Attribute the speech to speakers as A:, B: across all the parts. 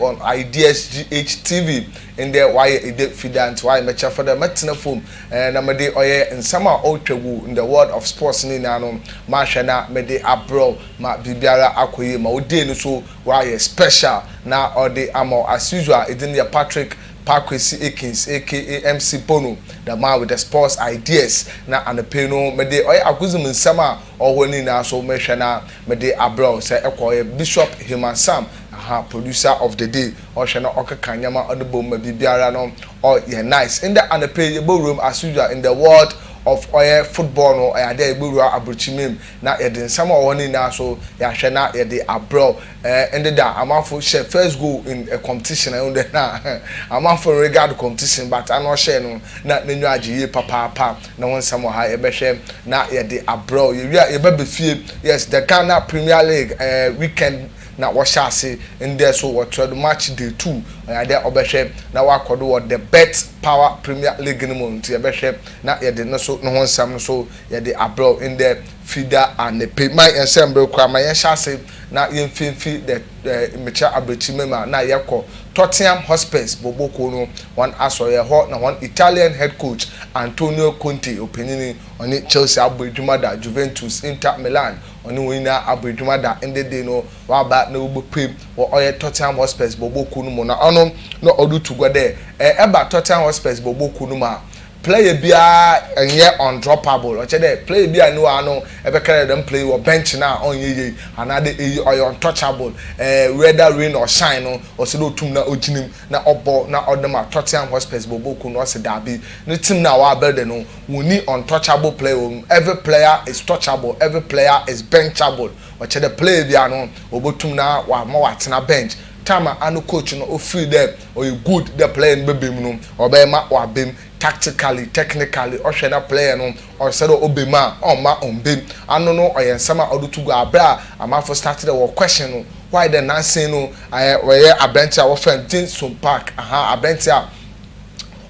A: on ideas GHTV ndɛ ɔayɛ edɛ Fidaa ntsi ɔayɛ mɛkyɛr fa dɛ mɛtsena famu na mede ɔyɛ nsɛm a ɔrotwa gu in the world of sports ne nyina no mahwɛ na mede abrɛw ma biribiara akɔ yie ma wo day no so ɔayɛ special na ɔde ama wo as usual edin no yɛ Patrick Pakwesi Akins aka MC Bono the man with the sports ideas na anɔpa yi no mede ɔyɛ agodzem nsɛm a Ɔwɔ ne nyinaa so mehwɛ na mede abrɛ wo sɛ ɛkɔ ɔyɛ Bishop Heman Sam aha producer of the day ɔhwɛ na ɔkeka nneɛma ɔde bom ma biribiara no ɔ yɛ nice ndɛ anɔpa yi yɛbɛwuram as usual in the world of ɔyɛ football no ɔyɛ adeɛ a yɛbɛwura aburokyimam na yɛde nsɛm a ɔwɔ hɔ no nyinaa so yɛahwɛ na yɛde abrɛ wo Eh ndɛ da amanfo hyɛ first goal in a competition eh ndɛ na amanfo nregard competition but ano ɔhyɛɛ no na nenyiwa agye yie papaapa ne ho nsɛm wɔ ha yɛbɛhwɛ na yɛde abrɛw yɛwie a yɛba befie yes the Ghana premier league eh weekend na wɔhyɛ ase ndɛ so wɔtoɛ do match day two ɔyɛ adeɛ a ɔbɛhwɛ na wakɔ do wɔ the bet power premier league no mu nti yɛbɛhwɛ na yɛde no so no ho nsɛm nso yɛde abrɛw ndɛ fida anɛpɛ ma yɛnsɛ mbre koraa ma yɛnhyɛ ase. na yɛfifi dɛ mekyerɛ abrɛkyir me ma na yɛkɔ Tottenham Hotspurs bɔbɔ kuo no hɔn asɔr ɛhɔ na hɔn Italian head coach Antonio Conte ɔpanyin yi ɔne Chelsea abɔ edwuma da Juventus Inter Milan ɔne hɔn nyinaa abɔ edwuma da ndɛ dei no ɔaba na ɔbɛpue wɔ ɔyɛ Tottenham Hotspurs bɔbɔ kuo no mu na ɔno na ɔretu gua dɛ ɛba Tottenham Hotspurs bɔbɔ kuo no mu a Player biara nnyɛ undroppable, ɔkyerɛ dɛ player bi a no wɔ ano ebɛkɛrɛ dɛm player yi wɔ bench no a ɔnnyɛ yie anaa dɛ eyi ɔyɛ untouchable eh whether rain or shine no ɔsɛ dɛ otum na ogyina mu na ɔbɔ na ɔde ma Tottenham Hotspurs bɔbɔɔ kuw no ɔse daabi ne team no a ɔabuilde no wonnyi untouchable player wɔ mu every player is touchable every player is benchable ɔkyerɛ dɛ player biara no obotum na ɔama ɔatsena bench time a ano coach no ofir dɛ ɔyɛ good dɛ player no bɛba mu no ɔbɛyɛ ma ɔaba mu tactically, technically, ɔhwɛ na player no ɔsɛ dɛ ɔba mu a ɔmma ɔmmba mu. Ano no ɔyɛ nsɛm a ɔde to gua aber a amanfo start dɛ wɔ question no why dɛ nansa yi no ɛɛ ɔyɛ aberantsɛ a wɔfrɛ no Jin-Sung Park ahaa aberantsɛ a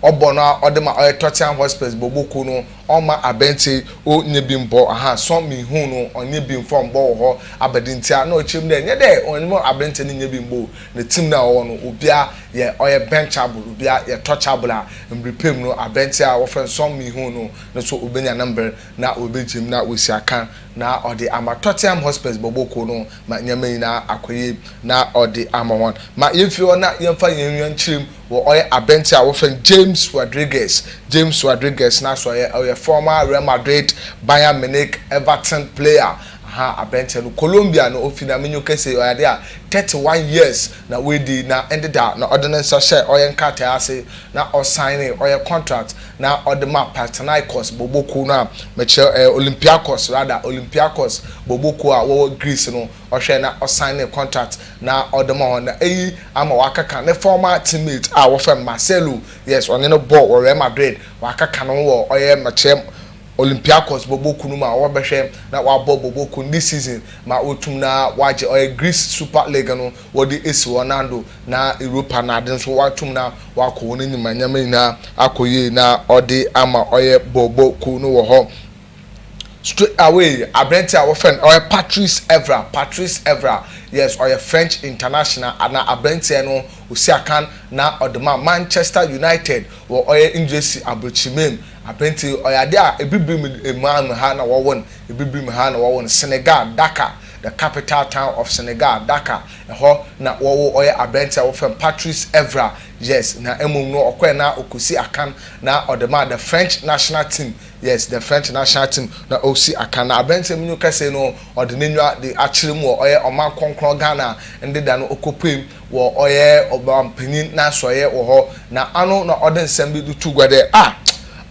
A: ɔbɔ no a ɔde ma ɔyɛ Tottenham Hotspurs bɔbɔ kuw no ɔmma aberantsɛ yi ɔnnyɛ bi mmbɔ ahaa Son Min-hoon no ɔnnyɛ bi mmfa mmbɔ wɔ hɔ aba dɛn ntsi a na ɔkyerɛ mu dɛ nnyɛ dɛ ɔnnyɛ aberantsɛ no nnyɛ bi mmbɔ o Ne team no a ɔwɔ no, obiara yɛ ɔyɛ benchable, obiara yɛ touchable a mber pɛ mu no abɛntseɛ a wɔfrɛ no Son Min-ho no no so obenya ne mber na oebegye mu na oesia kan na ɔdze ama Tottenham Hotspurs bɔbɔ kuw no ma ndzɛmba nyina akɔ yie na ɔdze ama hɔn. Ma yemfi hɔ na yɛmfa hɛn enyiwa nkyerɛ mu wɔ ɔyɛ abɛntseɛ a wɔfrɛ no James Rodriguez. James Rodriguez no aso ɔyɛ ɔyɛ former Real Madrid, Bayern Munich, Everton player. Aha abranteɛ no Colombia na ofi na menyo kese ɔyɛ ade a 31 years na wadi na ɛndeda na ɔde ne nsa hyɛɛ ɔyɛ nkrataɛ ase na ɔsignee ɔyɛ contract na ɔde ma Partinaikos bɔbɔ kuo no a mekyerɛ ɛyɛ Olympiakos rather Olympiakos bɔbɔ kuo a wɔwɔ Greece no ɔhwɛɛ na ɔsignee contract na ɔde ma wɔn na eyi ama wakaka ne former team mate a wɔfrɛ no Marcelo yes ɔne no bɔɔ wɔ Real Madrid wakaka ne ho wɔ ɔyɛ mekyerɛ Olympiakos bɔbɔ kun no ma wɔabɛhwɛ na wɔabɔ bɔbɔ kun this season ma woetum na wɔagye ɔyɛ Greece Super League no wɔdze esi hɔ nan do na Europa n'adze no so wɔatum na wɔakɔ hɔn enyim ma ndzɛmba nyina akɔ yie na ɔdze ama ɔyɛ bɔbɔ kun no wɔ hɔ straight away aberantsɛ a wɔfrɛ no ɔyɛ Patrice Evra Patrice Evra yes ɔyɛ French international ana aberantsɛ no osiakan na ɔdze maa Manchester United wɔ ɔyɛ Engiresi aborkyirmba mu. Apenti ɔyɛ ade a Abibirem man mu ha na wɔwɔ no, Abibirem ha na wɔwɔ no, Senegal, Dakar, the capital town of Senegal, Dakar, ɛhɔ na wɔwo ɔyɛ aberante a wɔfrɛ no Patrice Evra, yes, na mmom no ɔkɔɛ na ɔkɔsi akan na ɔde maa the French national team, yes, the French national team na ɔsi akan, na aberante minu kɛse no ɔde n'aniwa de akyerɛ mu wɔ ɔyɛ ɔman krɔnkrɔn Ghana ndeda no ɔkɔpuem, wɔ ɔyɛ ɔmanpanyin n'asoɛeɛ wɔ hɔ, na ano na ɔde nsɛm bi de to gua dɛ, ah,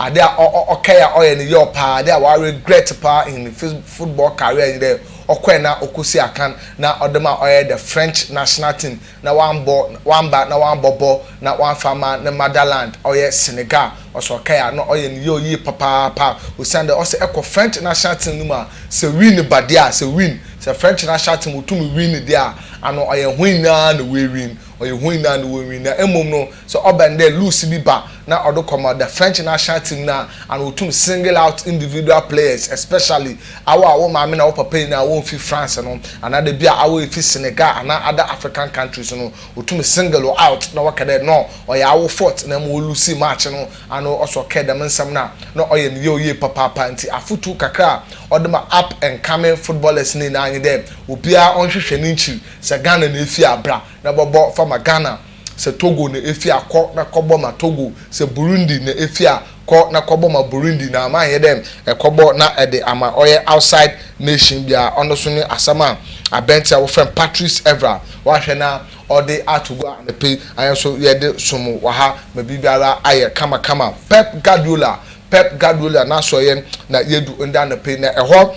A: ade a ɔkɛɛ a ɔyɛ no yaw paa, ade a wa regret paa in his football career nye dɛ ɔkɔɛ na ɔkɔsii akan na ɔde ma ɔyɛ the French national team na wambɔ, wamba na wambɔbɔ na wamfa amma ne motherland ɔyɛ Senegal. Ɔsɛ ɔkae a na ɔyɛ ne yaw yie papaapa osiandɛ ɔsɛ ɛkɔ French national team no mu a sɛ win ba deɛ a, sɛ win, sɛ French national team wotum win deɛ a, ano ɔyɛ hɔn nyinaa na woewin, ɔyɛ hɔn nyinaa na wɔwin. Na mbom no, sɛ ɔbɛn dɛ lose bi ba na ɔdo kɔma the French national team no a, ano otum single out individual players especially awo a wo maame na wo papa nyinaa wɔmmfi France no, anaadɛ bi a awo efi Senegal anaa other African countries no, Otum single out na ɔakɛ dɛ nɔ ɔyɛ awo fault na mbom olusii match no ano ɔsɛ ɔkɛɛ dɛm nsɛm no a, nɔ ɔyɛ ne yaw yie papaapa. Ntsi afotu kakra a ɔdze ma up and coming footballers no nyinara nye dɛ obiara ɔnhwehwɛ ne nkyir. Sɛ Ghana na efi a, bra na bɔbɔ fa ma Ghana. Sɛ Togo na efi a, kɔ na kɔbɔ ma Togo. Sɛ Burundi na efi a, kɔ na kɔbɔ ma Burundi na ama anyɛ dɛ ɛkɔbɔ na ɛde ama ɔyɛ outside nation bi a ɔno so ne asɛm a abɛnti a wɔfrɛ no Patrice Evra wahwɛ na ɔde ato gua anɔpa yi ayɛ nso yɛde som mo wɔ ha ma biribiara ayɛ kama kama Pep Guardiola Pep Guardiola n'asoɛeɛ na yɛdu nda anɔpa yi na ɛhɔ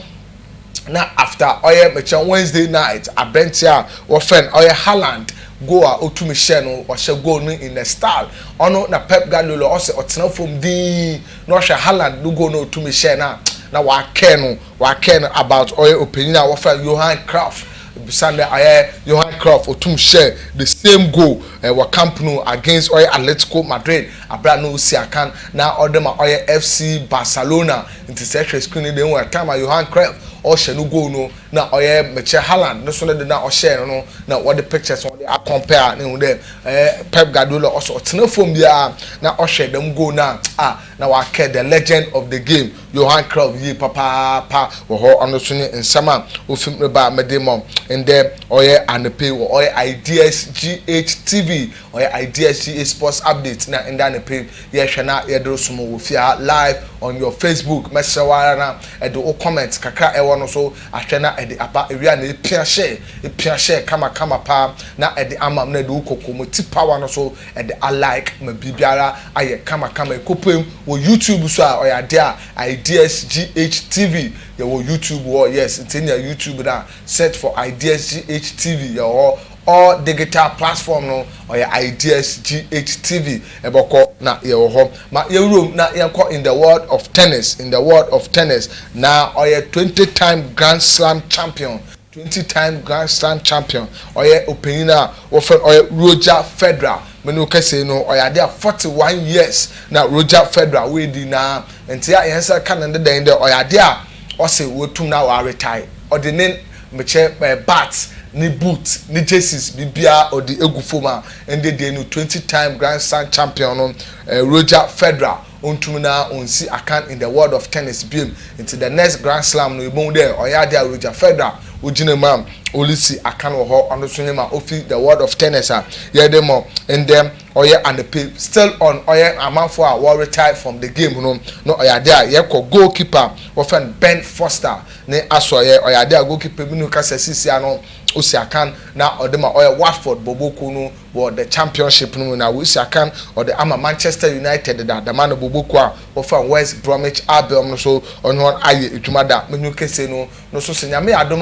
A: na after ɔyɛ mekyɛn Wednesday night abɛnti a wɔfrɛ no ɔyɛ Haaland goal a otumi hyɛ no ɔhyɛ goal no in a style ɔno na Pep Guardiola ɔsɛ ɔtena fam dinn na ɔhwɛ Haaland no goal na otumi hyɛ na na wakɛn no wakɛn no about ɔyɛ opanyin a wɔfrɛ Johan Cruyff Sunday ɔyɛ Johan Cruyff otumi hyɛ the same goal eh, wɔ Camp Nou against ɔyɛ Atletico Madrid abira na osi akan na ɔde ma ɔyɛ FC Barcelona Ntsi sɛ ehwɛ screen no do ehu a time a Johan Cruyff ɔhyɛ no goal no na ɔyɛ mekyerɛ Haaland no so ne de no a ɔhyɛɛ no no na wɔde pictures no wɔde akɔmpɛɛ a na ehu dɛ ɛɛ Pep Guardiola ɔsɛ ɔtsena famu biara na ɔhwɛ dɛm goal no a a na ɔakɛ the legend of the game Johan Cruyff yie papaapa wɔ hɔ. Ɔno so nye nsɛm a ofi m' reba a mede ma wo ndɛ ɔyɛ anapa yi wɔ ɔyɛ IDSGH TV ɔyɛ IDSGH Sports Updates na ndɛ anapa yi. Yɛhwɛ na yɛde resom wo wɔ fie ha live on your Facebook. Mɛsrɛ wo ara na ɛde wo comment kakra a ɛwɔ no so ahwɛ na ɛde aba awie a na epia share, epia share kama kama paa na ɛde ama me na ɛde wo kɔkɔmoti power no so ɛde a like ma biribiara ayɛ kama kama. Ɛkɔpuem wɔ YouTube nso a ɔyɛ adeɛ a IdeasGHTV yɛwɔ YouTube hɔ yes nti nya YouTube no a search for IdeasGHTV yɛwɔ hɔ. All digital platform no ɔyɛ Ideas GH TV bɔkɔ na yɛwɔ hɔ ma yɛwurom na yɛnkɔ in the world of tennis in the world of tennis na ɔyɛ twenty time grand slam champion twenty time grand slam champion ɔyɛ ɔpanyin a wɔfrɛ no ɔyɛ Roger Federer me ne wo kɛsei no ɔyɛ adeɛ a forty one years na Roger Federer wɔadi na nti a yɛn nsa ka no ne dɛn dɛ ɔyɛ adeɛ a ɔse wɔtum na wɔaretae ɔde ne Mekyɛ eh bat ne boot ne jerseys biribiara ɔde egu fam a ɛnde deɛ no twenty time grand slam champion no eh Roger Federer ɔntumi na ɔnsi akan in the world of tennis biom nti the next grand slam no yɛbɛhu dɛ ɔyɛ adeɛ a Roger Federer ɔgyina mu a ɔresi akan wɔ hɔ ɔno nso nyɛma ɔfi the world of tennis a yɛde mɔ ndɛ ɔyɛ anɔpe still on ɔyɛ amanfoɔ a wɔ retire from the game no na ɔyɛ adeɛ a yɛkɔ goal keeper wɔfrɛ no Ben Foster Ne asoɛeɛ, ɔyɛ adeɛ a goalkeeper bi no kasa sisi ano, ɔsi akan na ɔde ma ɔyɛ Watford bɔbɔ kuo no wɔ the Championship no mu na ɔsi akan ɔde ama Manchester United deda dama no bɔbɔ kuo a wɔfam West Bromwich Albion no so ɔne wɔn ayɛ adwuma da menu kese no no so sɛ Nyame yɛ adom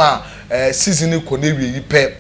A: a season no kɔ n'awieyi pɛ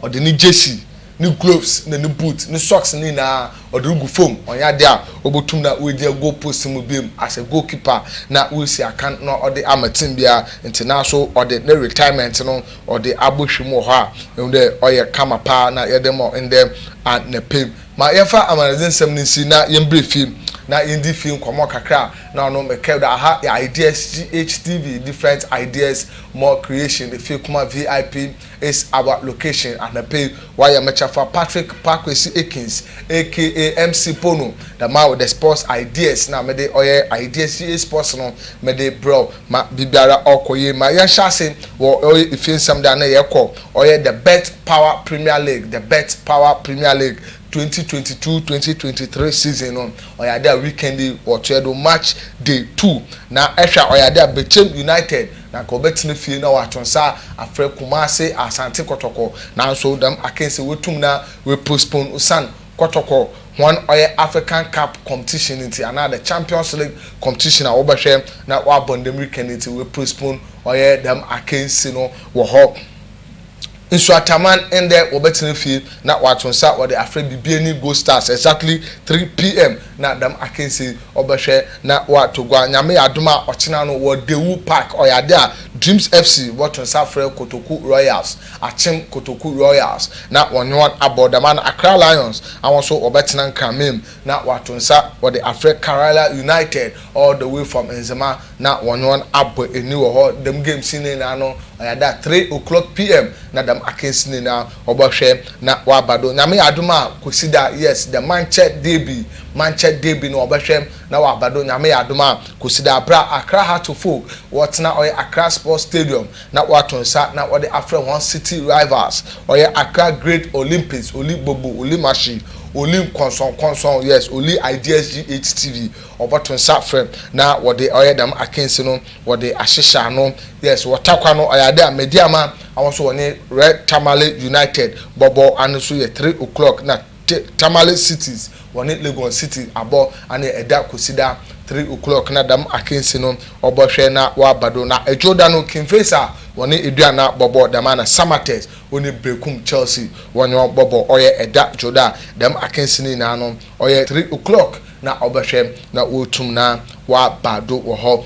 A: ɔde ne jersey ne gloves na ne boot ne socks no nyinaa ɔde regu fam, ɔnnyɛ ade a obotum na oegyina goal post no mu biom as a goal keeper na oesi akan na ɔde ama team biara ntsi naaso ɔde ne retirement no ɔde abɔhwɛ mu wɔ hɔ a ihu dɛ ɔyɛ kama paa na yɛde ma wo ndɛ anapa yi. Ma yɛmfa amanadze nsɛm no nsie na yɛmbrɛ fie na yendzi fie nkɔmbɔ kakra a na ɔno mekɛr do aha yɛ Ideas GH TV different ideas more creation efie kuma VIP. It's our location anapa yi wayɛ me kyɛfa Patrick Pa Kwesi Akins aka MC Pono da ma wo the sports ideas na mede ɔyɛ ideas yie sports no mede brɛ wo ma biribiara ɔkɔ yie ma yɛnhyɛ ase wɔ ɔyɛ efie nsɛm da na yɛkɔ ɔyɛ the bet power premier league the bet power premier league 2022-2023 season no ɔyɛ ade a weekend yi wɔtoɛ do match day two na ɛhwɛ a ɔyɛ ade a Bechem United Na nka ɔbɛtsena fie na ɔatõ nsa afrɛ Kumase, Asante kɔtɔkɔ. Naaso dɛm akansi woetum na woepostpone osian kɔtɔkɔ hɔn ɔyɛ African Cup competition no ntsi anaa the Champions League competition a wɔbɛhwɛ na wɔabɔ ndɛ mbirika no ntsi woepostpone ɔyɛ dɛm akansi no wɔ hɔ. Nsuataman ndɛ wɔbɛtsena fie na wɔato nsa wɔde afrɛ bibie ne Go Stars exactly three PM na dɛm akansie yi ɔbɛhwɛ na wɔatɔ gua Nyame yɛ adom a ɔkyena no wɔ Dawu Park ɔyɛ ade a Dreams FC bɔto nsa afrɛ Kotoku Royals akyem Kotoku Royals na wɔnye wɔn abɔ dɛm a na Accra Lions awɔn so wɔbɛtsena Nkraman mu na wɔato nsa wɔde afrɛ Karala United all the way from Nzema na wɔnye hɔn abɔ enyi wɔ hɔ. Dɛm games yi ne nyina no ɔyɛ ada a three o'clock pm na dɛm akansi no nyina wɔbɔhwɛ na wɔaba do. Nyame yɛ adom a Kwesida, yes, dɛ mankyɛ derby, mankyɛ derby no wɔbɛhwɛ na wɔaba do, Nyame yɛ adom a Kwesida aber a Accra Heart of Oak wɔtsena ɔyɛ Accra Sports Stadium na wɔato nsa na wɔdze afrɛ hɔn city rivals, ɔyɛ Accra Great Olympics, Oli Bobo, Oli Mashi, Oli Nkɔnsɔnkɔnsɔn, yes, Oli IDSGHTV, Wɔbɔto nsa frɛ na wɔde ɔyɛ dɛm akansi no wɔde ahyehyɛ ano yes wɔta kwa no ɔyɛ ade a medi ama awon so wɔne red tamale united bɔbɔ ano so yɛ three oclock na te tamale cities wɔne legon city abɔ ano ɛda kosida three oclock na dɛm akansi no wɔbɔ hwɛ na wɔaba do na ɛdwo da no king faisa wɔne eduana bɔbɔ dɛm ana samatex wɔne brekum chelsea wɔne wɔn bɔbɔ ɔyɛ ɛda dwo da dɛm akansi no nyinaa no Ɔyɛ three o'clock na ɔbɛhwɛ na oetum na ɔaba do wɔ hɔ.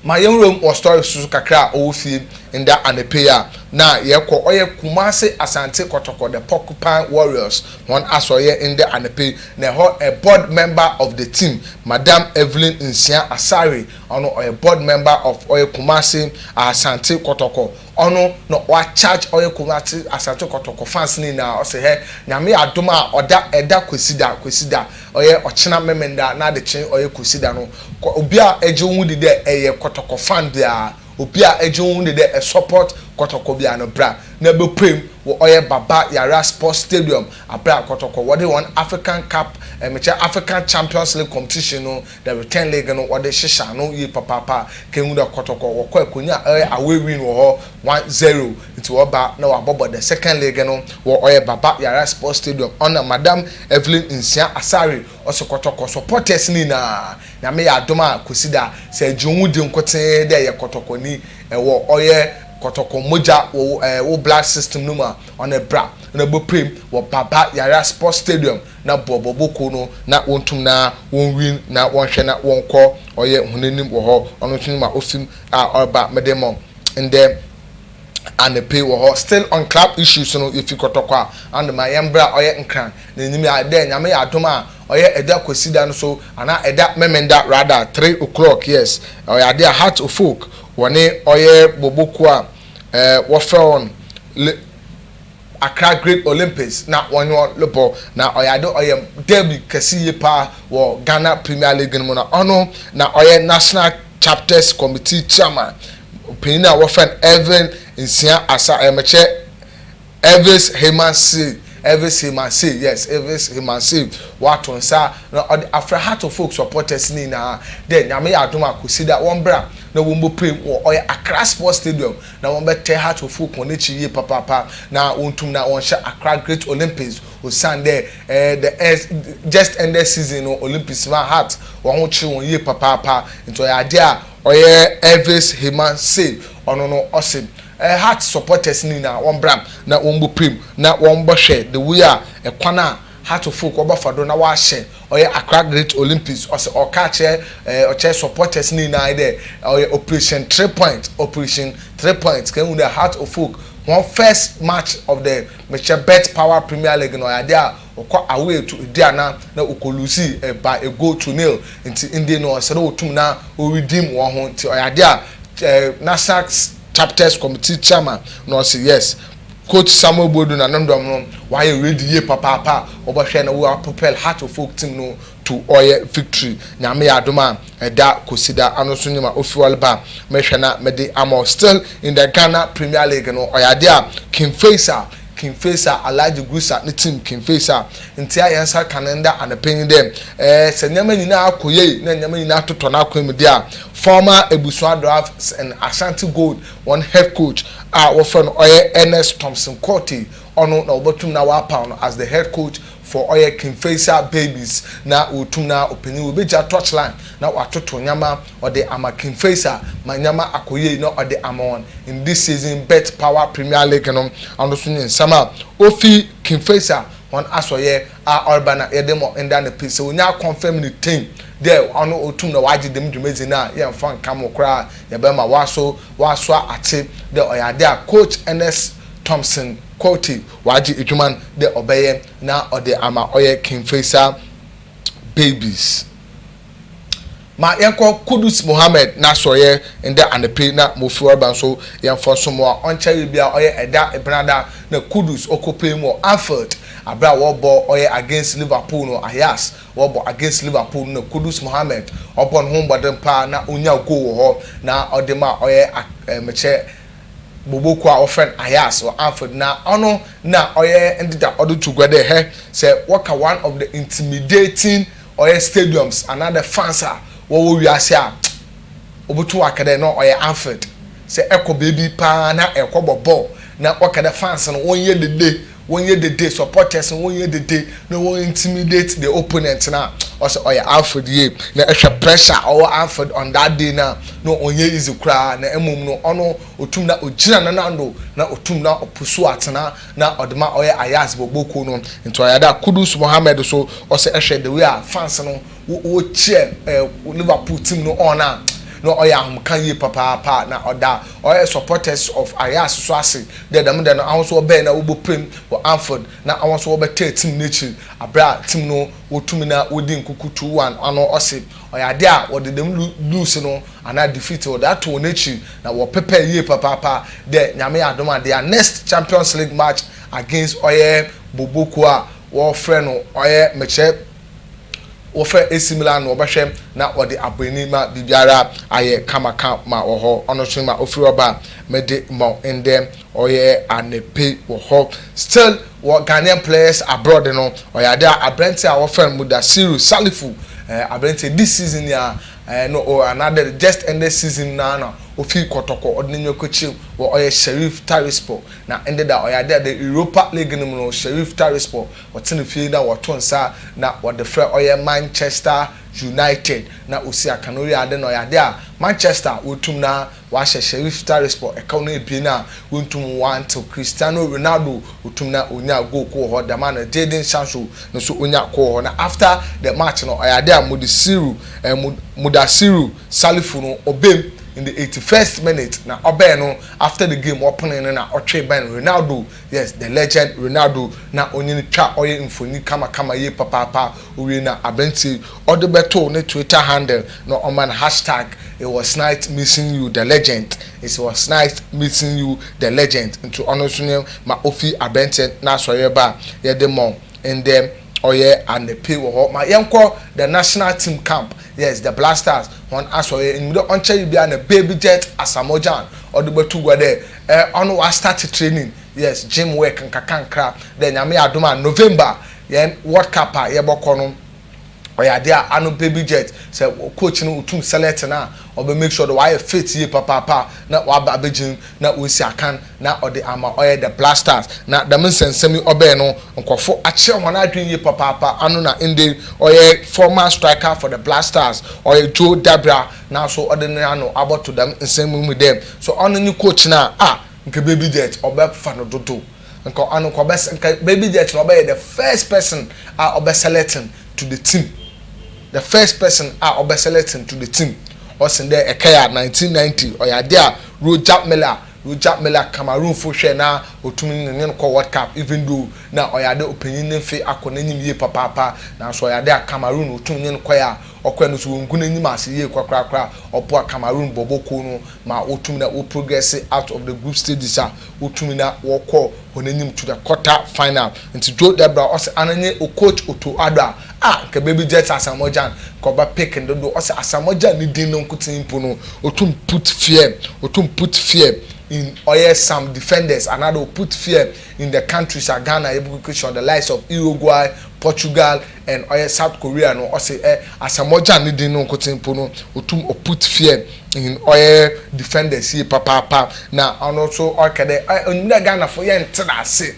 A: Ma yɛnwura mu wɔ story so kakra a ɔwɔ fie nda anapa yi a, na yɛkɔ ɔyɛ Kumase Asante Kɔtɔkɔ the Porcupine Warriors hɔn asɔryɛ nda anapa yi na hɔ board member of the team Madam Evelyn Nsia Asare ɔno ɔyɛ board member of ɔyɛ Kumase Asante Kɔtɔkɔ Ɔno na ɔa charge ɔyɛ Kumasi, Asante Kɔtɔkɔ fans no nyinaa, ɔse hɛ Nyame adom a ɔda ɛda Kwesida, Kwesida, ɔyɛ ɔkyena Memenda na adekye ɔyɛ Kwesida no kɔ obi a ɛgye wo ho di dɛ ɛyɛ Kɔtɔkɔ fan biara, obi a ɛgye wo ho di dɛ ɛ support Kɔtɔkɔ biara no bra na bɛpuem wɔ ɔyɛ Baba Yara Sports Stadium, Abra Kɔtɔkɔ wɔde wɔn African Cup, ɛmekyɛ African Champions League competition no The Return Leg no wɔde hyehyɛ ano yie papaapa a Kehinde Kotoko wɔkɔ akonya a ɔyɛ away win wɔ hɔ one zero nti wɔba na wɔabɔbɔ the second leg no wɔ ɔyɛ Baba Yara Sports Stadium ɔna Madam Evelyn Nsia Asare ɔse Kotoko supporters no nyinaa Nyame yɛ adom a Kwesida sɛ agye wo ho di nkotee dɛ yɛ Kotoko ni ɛwɔ ɔyɛ Kotoko mmogya wɔ wo blood system no mu a ɔne bra na bɔ prim wɔ Baba Yara Sports Stadium na bɔ bɔbɔ kuo no na wɔntum na wɔnwin na wɔnhwɛ na wɔnkɔ ɔyɛ hon anim wɔ hɔ ɔno nso ne ma ɔfim a ɔreba mede mo ndɛ anɔpɛ wɔ hɔ still on club issues no yɛfi kɔtɔkɔ a ano ma yɛmbra ɔyɛ nkran na anim a dɛ nyame yɛ adom a ɔyɛ ɛda kwasida no so anaa ɛda memenda rather three oclock yes ɔyɛ adeɛ a heart ofolk wɔne ɔyɛ bɔbɔ kuo a wɔfrɛ wɔn Accra Great Olympics na wɔnye hɔn robɔ, na ɔyɛ adze ɔyɛ derby kɛse yie paa wɔ Ghana Premier League no mu, na ɔno na ɔyɛ National Chapters Committee Chairman, panyin a wɔfrɛ no Irvin Nsia Asah, ɔyɛ mekyɛ Irvis Heymansey, Irvis Heymansey, yes, Irvis Heymansey, ɔato nsa na ɔdze afrɛ Heart of Oak supporters ne nyina dɛ Nyame yɛ adom a Kwesida wɔmbra na wombɔpuei wɔ ɔyɛ Accra Sports Stadium na wɔbɛtɛ Hatofoɔ kɔn n'ekyir yie papaapa na wontum na wɔnhyɛ Accra Great Olympics osiandɛ eh the eh just ended season no Olympics maa Hat hɔn ho kyeer hɔn yie papaapa ntsi ɔyɛ adze a ɔyɛ Elvis Hema sei ɔno no ɔse eh Hat supporters no nyina wɔmbra na wɔmbɔpirem na wɔmbɔhwɛ the way a kwan a Hartlefoot wɔbɛfa do na wɔahyɛ ɔyɛ Accra Great Olympics. Ɔse ɔreka akyerɛ eh ɔkyerɛ supporters no nyinaa dɛ ɔyɛ operation three point operation three point kɛn hu dɛ Hartlefoot hɔn first match of the mekyerɛ Bet Power Premier League no ɔyɛ ade a ɔkɔ away to eduanan na ɔkɔ lose eh by a goal to nil ntsi ndɛ no ɔsɛ dɛ wotum na wo redeem hɔnho ntsi ɔyɛ ade a eh National Chapters Committee Chairman no ɔse yes Coach Samuel Boadu na no ndɔm no wɔayɛ ready yie papaapa a wɔbɔhwɛ na wɔ propel Heart of Oak team no to ɔyɛ victory Nyame yɛ adom a ɛda Kwasida ano nso nye ma ofi ɔlba mehwɛ na mede ama wo still in the Ghana Premier League no ɔyɛ adeɛ a King Faisal King Faisal Alhaji Gusa ne team King Faisal ntia yɛn nsa ka no nda anɔpa yi dɛ ɛɛ sɛ nneɛma nyinaa akɔ yie na nneɛma nyinaa atotɔ n'akwan mu deɛ a former Ebusua Dwarfs and Ashanti Gold Wɔn head coach a wɔfrɛ no ɔyɛ Ernest Thompson Quartey, ɔno na wɔbɛtum na wɔapaw no as the head coach for ɔyɛ Kingfeisher Babies na wɔtum na ɔpanyin wɔ bɛgya touchline na wɔatoto nyama ɔde ama Kingfeisher ma nyama akɔ yie na ɔde ama wɔn in this season Bet Power Premier League no, ɔno nso nye nsɛm a ofi Kingfeisher wɔn asɔeɛ a ɔreba na yɛde ma nda no pi. Sɛ onya confirm no tein dɛ ɔno otum na ɔagye dɛm dwumadzi no a, yɛmmfa nnka mo koraa, yɛbɛma ɔaso ɔasoa atse dɛ ɔyɛ adze a Coach Ernest Thompson Quartey ɔagye edwuma no dɛ ɔbɛyɛ na ɔdze ama ɔyɛ Kingfisher Babies. Ma yɛnkɔ Kudus Mohammed n'asɔrɛ ndɛ anope na Mofiwarba nso yɛmfa nsom a ɔnkyɛree biara ɔyɛ ɛda Ebɛnada na Kudus ɔkɔpaem wɔ Anfield aberɛ a wɔɔbɔ ɔyɛ against Liverpool no Ajax wɔɔbɔ against Liverpool no na Kudus Mohammed ɔbɔ ne ho mmɔden paa na ɔnya goal wɔ hɔ na ɔde ma ɔyɛ mekyɛ bobo kuo a wɔfrɛ no Ajax wɔ Anfield na ɔno na ɔyɛ ndeda ɔde to gua dɛ hɛ sɛ wɔka one of the intimidating ɔyɛ stadiums anaa the fans a wɔwɔ wiase a wɔbɛto aka dɛ na ɔyɛ Anfield sɛ ɛkɔ baabi paa na ɛrekɔbɔ bɔɔl na wɔka dɛ fans no wɔnyɛ dede wɔnyɛ dede supporters no wɔnyɛ dede na wɔn intimidate the opponent no a ɔsɛ ɔyɛ Anfield yie na ɛhwɛ pressure a ɔwɔ Anfield on that day no a na ɔnyɛ easy koraa na mmom no ɔno ɔtum na ɔgyina nanando na ɔtum na ɔpusu atena na ɔde ma ɔyɛ ayas bɔbɔ kuo no ntoayada kudus mohammed so ɔsɛ ɛhwɛ the way a fans no wo cheer ɛɛ liverpool team no on a na ɔyɛ ahomka yie papaapa na ɔda ɔyɛ supporters of ayas so ase dɛ dɛm dɛ no awonso wɔbɛɛ na wobɔ prem wɔ anfield na awonso wɔbɛtɛɛ team no akyiri abrɛ a team no wotumi na wodi nkuku two one ano ɔse Ɔyɛ ade a wɔde dɛm lu lose no anaa defeat wɔde ato hɔn ekyir na wɔpepɛr yie papaapa dɛ Nyame adom a their next Champions League match against ɔyɛ Bobo kuo a wɔfrɛ no ɔyɛ mekyerɛ wɔfrɛ AC Milan no wɔbɛhwɛ na wɔde abɔ ani ma biribiara ayɛ kama ka ma wɔ hɔ. Ɔno so ma ofir hɔ ba a mede ma wo ndɛ ɔyɛ anapa yi wɔ hɔ still. wɔ Ghanaian players abroad no ɔyɛ ade a aberanteɛ a wɔfrɛ no Mudasiru Salifu eh, aberanteɛ this season yi a eh, no oh, another just ended season na na ofi kɔtɔkɔ ɔde n'enyiwa kɔkyerɛ mu wɔ ɔyɛ Sheriff Tiraspol na ɛnde da ɔyɛ ade a the Europa League no mu no Sheriff Tiraspol wɔte ne fie na wɔto nsa na wɔde frɛ ɔyɛ Manchester United na osi aka na owie ade na ɔyɛ ade a Manchester wɔtum na Wɔahyɛ Sheriff Tiraspol ɛkaw no ebien a wonntum wɔanntew Cristiano Ronaldo otum na onyaa goal kor wɔ hɔ dɛm ara na Jadon Sancho no so onyaa kor wɔ hɔ na after the match no ɔyɛ ade a Mudassiru eh Mudassiru Salifu no ɔbaa mu in the eighty first minute na ɔbɛɛ no after the game ɔpenee no na ɔtwee bɛn Ronaldo Yes the legend Ronaldo na onyini twa ɔyɛ mfoni kama kama yie papaapa owie na abrantie yi ɔde bɛtoo ne twitter handle na ɔma no hashtag it was nice meeting you the legend it was nice meeting you the legend nti ɔno nso neɛ ma ofi abranteɛ n'asɔreɛ ba a yɛde mɔ ndɛ ɔyɛ anɛpe wɔ hɔ ma yɛnkɔ the national team camp yes the black stars wɔn asɔreɛ enyimdɛ ɔnkyɛre biara na baby jet asamoah gyan ɔde bɛto gua dɛ Eh ɔno wa start training. Yes gym work nkakrankra dɛ nyame adom a November yɛn world cup a yɛbɔ kɔ no ɔyɛ adeɛ a ano baby jet sɛ wo coach no otum select no a ɔbɛ make sure dɛ wayɛ fit yie papaapa na waba abɛ gym na wasi akan na ɔde ama ɔyɛ the black stars na dɛm nsɛnsɛm yi ɔbɛɛ no nkorɔfo akyerɛ wɔn adwen yie papaapa ano na ndɛ ɔyɛ former striker for the black stars ɔyɛ Joe Dabira Naaso ɔdze noano abɔto dɛm nsɛm yi mu dɛ, sɛ ɔno nye coach no a, ah, nka Baby Jet ɔbɛfa no dodow. Nka ɔno nka ɔbɛs nka Baby Jet na ɔbɛyɛ the first person a ɔbɛselectn to the team, the first person a ɔbɛselectn to the team. Ɔse dɛ ɛkɛyɛ a, nineteen ninety, ɔyɛ adze a Roger Milla, Roger Milla, Cameroonfo hwɛe na otum nye hɛn kɔɔ World Cup even though nna ɔyɛ adɛ ɔpanyin ne mfe akɔ n'enyim yie papaapa, naaso ɔyɛ adɛ a Cameroon otum nye no kɔe a, Ɔkwan no so wɔn nko no enyim ase yie korakorakora a ɔboa Cameroon bɔbɔ kuw no ma wotum na wo progress out of the group stages a wotum na wɔkɔɔ hɔn enyim to the quarter final. Ntsi Joe Debra ɔse ana nye o coach Otto Addo a a nka baby Jets Asamoah Gyan nka ɔbɛ pick no dodow ɔse Asamoah Gyan ne din no nkotsee mpo no otum put fear otum put fear in ɔyɛ some defenders anaadɛ o put fear in the countries a Ghana yɛbɔ kikirikyi on the likes of Uruguay, Portugal, and ɔyɛ south korea no ɔse ɛ asamoah gyan ne din no nkotsee mpo no otum ɔ put fear in ɔyɛ defenders yie papaapa na ɔno so ɔkɛ dɛ ɛ onyim dɛ ghana fo yɛ nntse n'ase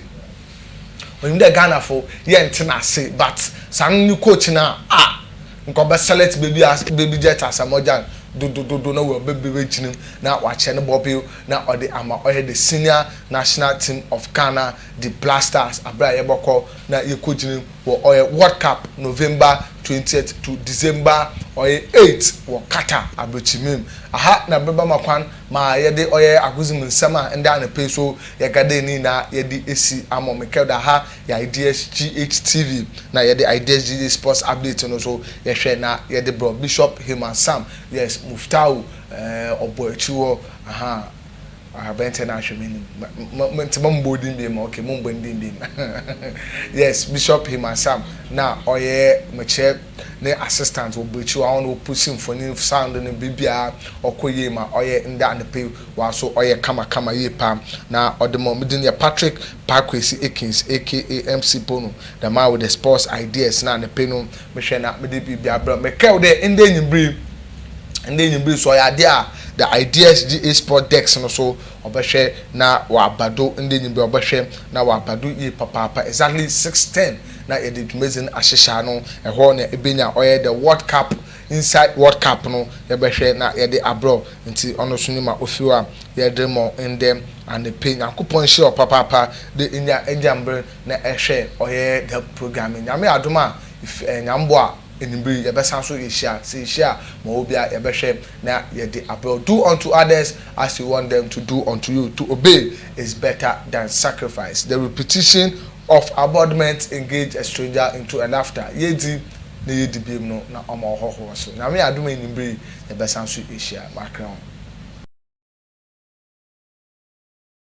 A: onyim dɛ ghana fo yɛ nntse n'ase but saa no ne coach no a ah nka ɔbɛ select baby a baby jet asamoah gyan dodododo na wɔ bɛ bɛ gyina mu na ɔakyɛ no bɔbew na ɔde ama ɔyɛ the senior national team of ghana the black stars aber a yɛbɔkɔ na yɛkɔ gyina mu. wɔ ɔyɛ World Cup November twentieth to December ɔyɛ eight wɔ Qatar abrɛkyimɛ mu. Aha na bɛba ma kwan ma yɛde ɔyɛ agodzi mu nsɛm a ndɛ anapa yi so yɛga dɛ ne nyinaa yɛde esi ama wo. Mekɛr dɛ aha yɛ Ideas GH TV na yɛde Ideas GH Sports Update no so yɛhwɛ na yɛde brɛ wo. Bishop Heman Sam, yes, Muftau, eh, ɔbɔ ekyir hɔ, ahaa. Abɛntsɛ na ahwɛ m'enyim ma ma ntsi ma mmbɔ wo dzin bio ma okay mommbɔ ne dzin bio ma yes Bishop Heman Sam na ɔyɛ mekyerɛ ne assistant wɔ bw'ekyir hɔ a ɔno na ɔpusi mfonyin sound no biribiara ɔkɔ yie ma ɔyɛ ndɛ anapa yi ɔara so ɔyɛ kama kama yie paa na ɔde ma me dzin yɛ Patrick Parkwesi Akins aka MC Pono the man with the sports ideas na anapa yi no Mehwɛ na mede biribi abrɛ wo. Mekae wo dɛ ndɛ enyimber yi, ndɛ enyimber yi so ɔyɛ ade a the Ideas GA Sport Desk no so ɔbɛhwɛ na ɔaba do ndɛ enyimber yi ɔbɛhwɛ na ɔaba do yie papaapa exactly six ten na yɛdze dwumadzi no ahyehyɛ ano. Hɔ na ebenya ɔyɛ the World Cup inside World Cup no yɛbɛhwɛ na yɛdze abrɛ wo ntsi ɔno so nye ma ofi hɔ a yɛdze rema wo ndɛ anapa yi. Nyankopɔn nhyira wo papaapa dɛ inya egya mber na ɛhwɛ ɔyɛ the programming nyame adom a if ɛyɛ nyame boa anwummere yi yɛbɛsan so yɛhyia sɛ yɛhyia a ma ɔwɔ biara yɛbɛhwɛ na yɛde abrɛ wo do unto others as you want them to do unto you to obey is better than sacrifice the repetition of abodment engage a stranger into a laughter yɛdi na yɛdi biom no na ɔma ɔhɔhoɔ so nyame adom a anwummere yi yɛbɛsan so yɛhyia makra ho.